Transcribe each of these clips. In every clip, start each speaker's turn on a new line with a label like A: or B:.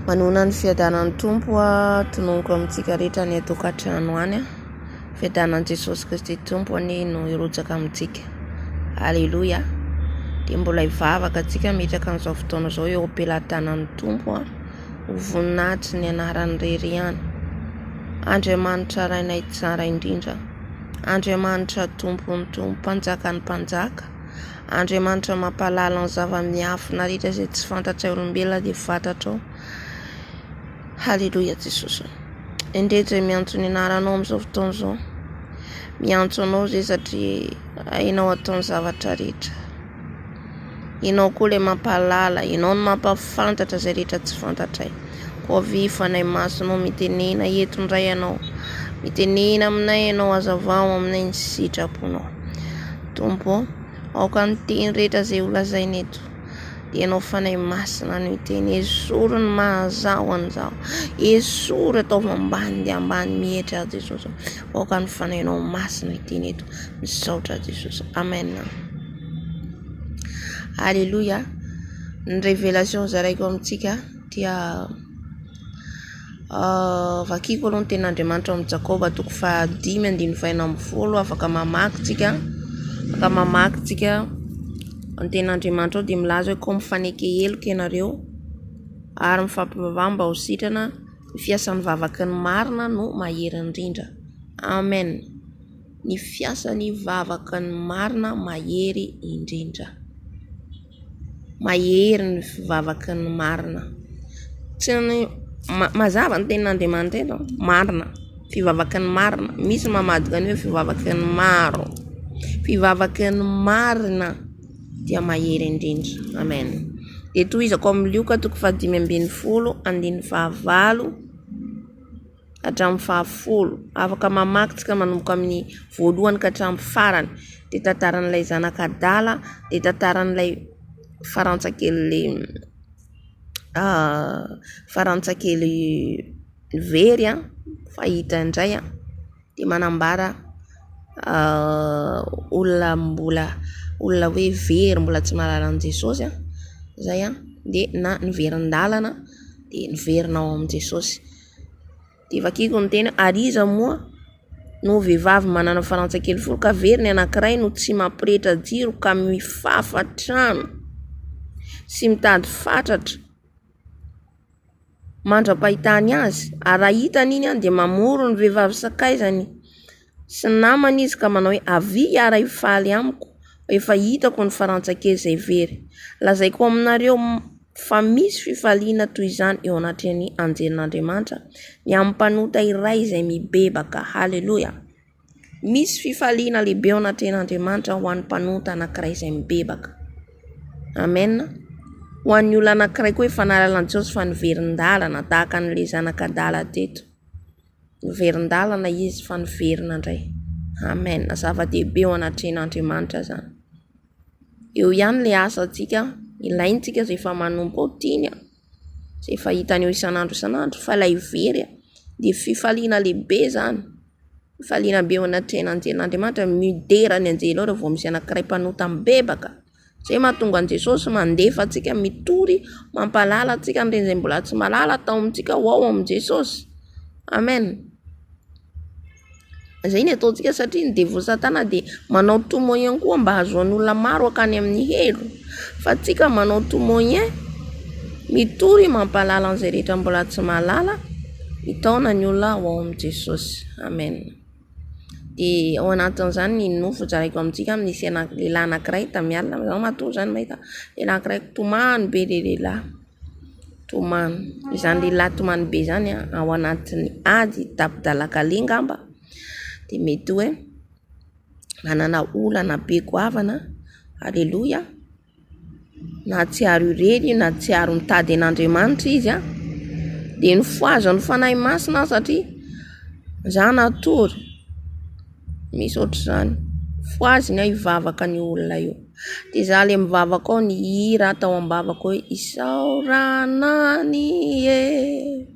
A: Manohana ny fiadanan'ny Tompo aho, tononiko amintsika rehetra any an-tokantrano any. Fiadanan'i Jesosy Kristy Tompo anie no hirotsaka amintsika. Aleloia. Dia mbola hivavaka antsika hametraka an'izao fotoana izao eo am-pelatanan'ny Tompo ho voninahitry ny anarany irery ihany. Andriamanitra Rainay Tsara indrindra, Andriamanitra Tompon'ny Tompo, Mpanjakan'ny Mpanjaka, Andriamanitra mampahalala ny zava-miafina rehetra izay tsy fantatray olombelona dia fantatrao. Haleloia Jesosy o. Endrey izay miantso ny anaranao amin'izao fotoana izao. Miantso anao izay satria hainao atao ny zavatra rehetra. Ianao koa ilay mampahalala, ianao no mampafantatra izay rehetra tsy fantatray. Koa avy fanahy masinao mitenena eto indray ianao. Mitenena aminay ianao, azavao aminay ny sitraponao. Tompo ô, aoka ny teny rehetra izay holazaina eto dia Ianao Fanahy Masina no hiteny. Esory ny maha-Zaho an'izao. Esory ataovy ambany dia ambany mihetsy aho Jesosy ô. Aoka ny Fanahinao Masina hiteny eto. Misaotra Jesosy. Amen. Alléluia. Ny révélation zaraiko amintsika dia Vakiko aloha ny tenin'Andriamanitra ao amin'ny Jakoba toko faha dimy andininy faha enina ambin'ny folo afaka mamaky tsika afaka mamaky tsika ny tenin'Andriamanitra ao de milaza hoe ko mifaneke heloka ianareo ary mifampivavaha mba ho sitrana ny fiasan'ny vavaka ny marina no mahery indrindra Amen. ny fiasan'ny vavaka ny marina mahery indrindra. Mahery ny vavaka ny marina. Tsy ny mazava ny tenin'Andriamanitra eto marina. Fivavaka ny marina. Misy ny mamadika ny hoe fivavaka ny maro. Fivavaka ny marina dia mahery indrindra. Amen. Dia tohizako amin'ny Lioka toko faha dimy ambin'ny folo andininy faha valo. hatramin'ny fahafolo. Afaka mamaky tsika manomboka amin'ny voalohany ka hatramin'ny farany. Dia tantaran'ilay zanaka adala, dia tantaran'ilay farantsa kely farantsa kely very fahita indray. Dia manambara olona mbola olona hoe very mbola tsy mahalala an'i Jesosy izay dia na niverin-dalana dia niverina ao amin'i Jesosy. Dia vakiko ny teny hoe, ary iza moa no vehivavy manana farantsay kely folo ka very ny anankiray no tsy mampirehetra jiro ka mifafa trano sy mitady fatratra mandra-pahitany azy? Ary raha hitany iny dia mamory ny vehivavy sakaizany. Sy namana izy ka manao hoe, Avia hiara hifaly amiko, efa hitako ny farantsakely izay very. Lazaiko aminareo fa misy fifaliana toy izany eo anatrehan'ny anjelin'Andriamanitra ny amin'ny mpanota iray izay mibebaka. Haleloia! Misy fifaliana lehibe eo anatrehan'Andriamanitra ho an'ny mpanota anankiray izay mibebaka. Amen. Ho an'ny olona anankiray koa efa nahalala an'i Jesosy fa niverin-dalana, tahaka an'ilay zanak'adala teto. Noverin-dalana izy fa niverina indray. Amen! Zava-dehibe eo anatrehan'Andriamanitra izany. Eo ihany ilay asantsika, ilaintsika izay efa manompo ao tiany, izay efa hitany eo isan'andro isan'andro, fa ilay very dia fifaliana lehibe izany, fifaliana be eo anatrehan'Andriamanitra, midera ny anjely ao raha vao misy anankiray mpanota mibebaka. Izay mahatonga an'i Jesosy mandefa antsika mitory mampahalala antsika an'ireny izay mbola tsy mahalala atao amintsika ho ao amin'i Jesosy. Amen. Izay no ataontsika satria ny devoly satana dia manao tout moyen koa mba hahazoany olona maro hankany amin'ny helo. Fa antsika manao tout moyen mitory mampahalala an'izay rehetra mbola tsy mahalala hitaona ny olona ho ao amin'i Jesosy. Amen. dia ao anatin'izany ny nofy hozaraiko amintsika amin'ny sena lehilahy anankiray tamiala zaho matoa izany mahita lehilahy anankiray tomany be ilay lehilahy tomany izany lehilahy tomany be izany a ao anatin'ny ady tapi-dalan-kaleha angamba dia mety hoe manana olana be goavana aleloia Nahatsiaro irery i, nahatsiaro mitady an'Andriamanitra izy an! Dia nifohaza-n'ny Fanahy Masina aho satria izaho natory, misy ohatr'izany. Fohaziny aho hivavaka an'io olona io. Dia izaho ilay mivavaka ao, ny hira tao am-bavako hoe isaorana an'i Ieh.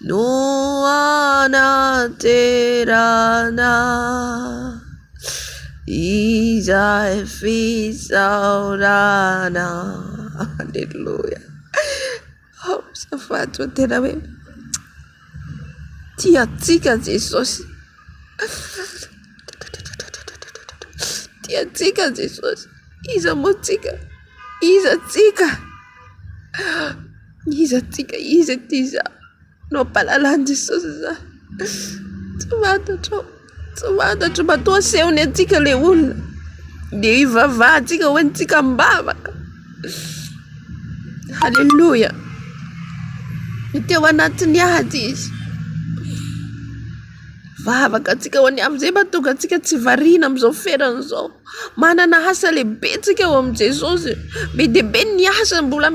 A: no hanaterana izay fisaorana Aleloia oh azafady fa tena hoe tia antsika Jesosy tia antsika Jesosy iza moa tsika iza tsika Iza tika iza ity zah no ampahalalan'i Jesosy zah tsy fantatrao tsy fantatro matoa asehony antsika le olona de hivavahantsika ho antsika am-bavaka haleloia de teo anatiny ady izy vavaka antsika ho any am'izay mahatonga antsika tsy variana am'izao ferana izao. Manana asa lehibe tsika ao amin'i Jesosy. Be dia be ny asa mbola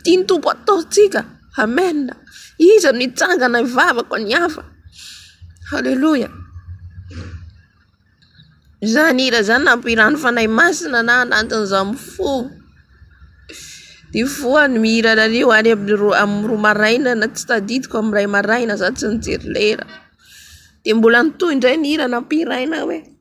A: tian'ny Tompo ataontsika. Amen. Iza no hitsangana hivavaka ny hafa. Aleloia. Izany hira izany nampihirano Fanahy Masina na anatin'izaho mifoha. Dia voa ny mihira anareo any amin'ny roa amin'ny roa maraina na tsy tadidiko amin'ny iray maraina za tsy nijery lera. Dia mbola nitohy indray ny hira nampihirainao e.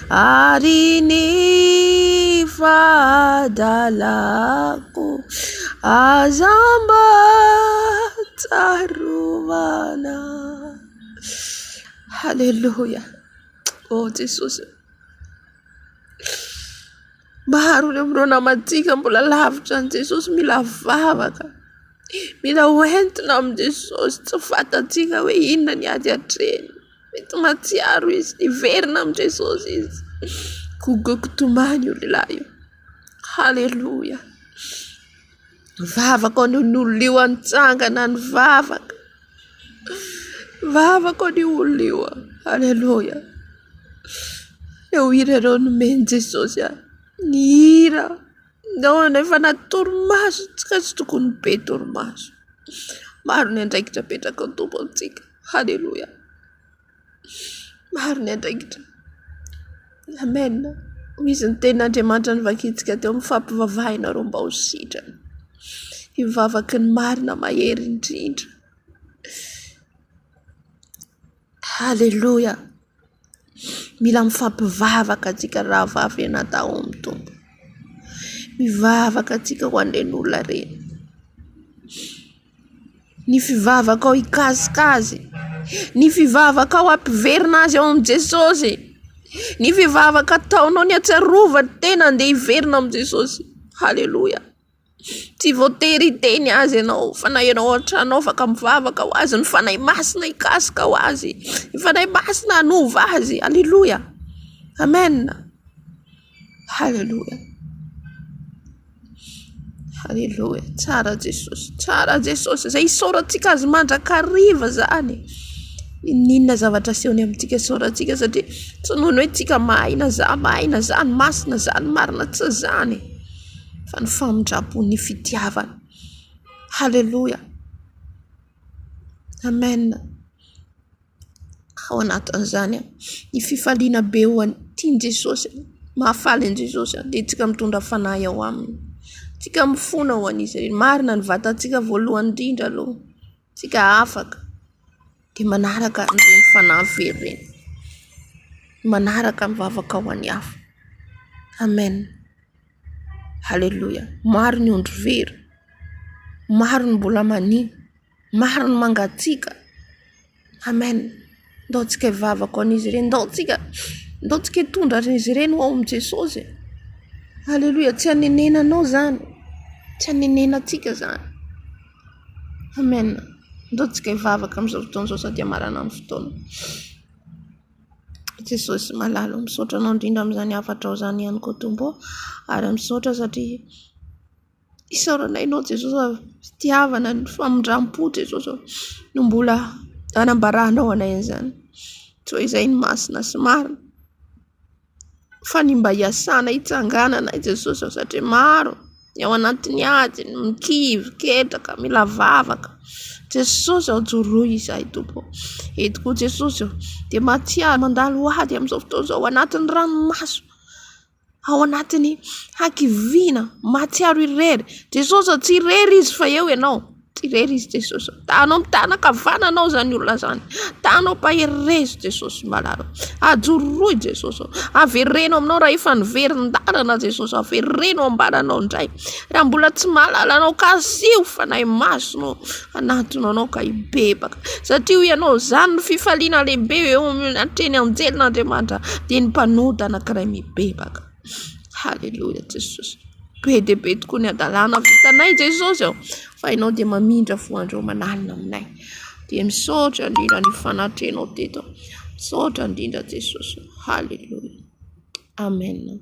A: Ary ny fahadalako aza mba tsarovana Haleloia oh Jesosy oh maro ireo namantsika mbola lavitra an'i Jesosy mila vavaka mila ho entina amin'i Jesosy tsy fantatsika hoe inona ny ady atrehiny Mety mahatsiaro izy, hiverina amin'i Jesosy izy. Gogo-gogo tomany io lehilahy io. Haleloia. Ny vavako anio ny olona io nitsangana nivavaka. Ny vavako anio olona io. Haleloia. Ireo hira ireo nomen'i Jesosy ahy. Ny hira. Nao ianao efa anaty torimaso tsy ka tsy tokony be torimaso maro ny andraikitra apetraka ny Tompo amintsika haleloia maro ny andraikitra Amen hoy izy ny tenin'Andriamanitra novakintsika teo mifampivavaha ianareo mba ho sitrany hivavaka ny marina mahery indrindra Haleloia! Mila mifampivavaka antsika rahavavy anadahy ao amin'ny Tompo. Mivavaka antsika ho an'ireny olona ireny. Ny fivavakao hikasika azy, ny fivavakao hampiverina azy ao amin'i Jesosy, ny fivavaka ataonao ny hatsiarovany ny tenany dia hiverina amin'i Jesosy. Haleloia! Tsy voatery hiteny azy ianao fa na ianao an-trano ao afaka mivavaka ho azy, ny Fanahy Masina hikasika ho azy, ny Fanahy Masina hanova azy, aleloia, amen, haleloia, haleloia, tsara Jesosy, tsara Jesosy, izay isaorantsika Azy mandrakariva izany e, n'inon'inona zavatra asehony amintsika isaorantsika satria tsy noho ny hoe tsika mahay na za mahay na za ny masina, za ny marina, tsy izany e. fa ny famindrampo ny fitiavana. Haleloia! Amen! Ao anatin'izany ny fifaliana be ho an'ny tian'i Jesosy, mahafaly an'i Jesosy dia isika mitondra fanahy ao aminy, isika mifona ho an'izy ireny. Marina ny vatantsika voalohany indrindra aloha. Isika afaka de manaraka ireny fanahy very ireny, manaraka mivavaka ho an'ny hafa. Amen! Haleloia! Maro ny ondry very, maro ny mbola mania, maro ny mangatsiaka. Amen! Ndaontsika hivavaka ho an'izy ireny. Ndaontsika, ndaontsika hitondra azy ireny ho ao amin'i Jesosy e. Aleloia. Tsy hanenenanao izany. Tsy hanenenantsika izany. Amen. Ndaontsika hivavaka amin'izao fotoana izao sady hamarana ny fotoana. Jesosy malala o, misaotra anao indrindra amin'izany hafatrao izany ihany koa Tompo o. Ary misaotra satria. Isaorana anao Jesosy fa fitiavana ny famindrampo Jesosy ô no mbola anambaranao anay an'izany toa izay ny masina sy marina fa ny mba iasanay hitsangananay Jesosy ô satria maro ny ao anatin'ny ady ny kivy ketraka mila vavaka Jesosy ô joroy izahay Tompo ô eto koa Jesosy ô dia mahatsiaro mandalo ady amin'izao fotoana izao ao anatin'ny ranomaso ao anatin'ny hakiviana mahatsiaro irery. Jesosy tsy irery izy fa eo ianao, tsy irery izy Jesosy. Ta hanao mitana ankavanana izany olona izany, ta hanao mahery re izy Jesosy malala. Ajoro roa i Jesosy, avereno aminao raha efa niverin-dalana Jesosy, avereno ambananao indray. Raha mbola tsy mahalala anao ka asio fanahy masina ao anatiny anao ka hibebaka satria hoy ianao izany no fifaliana lehibe eo amin'ny atrehin'ny anjelin'Andriamanitra dia ny mpanota anankiray mibebaka. Haleloia Jesosy. Be dia be tokoa ny hadalana vitanay Jesosy ô fa ianao dia mamindra voandry eo aman'alina aminay. Dia misaotra indrindra ny fanatrehanao teto. Misaotra indrindra Jesosy ô. Haleloia. Amen.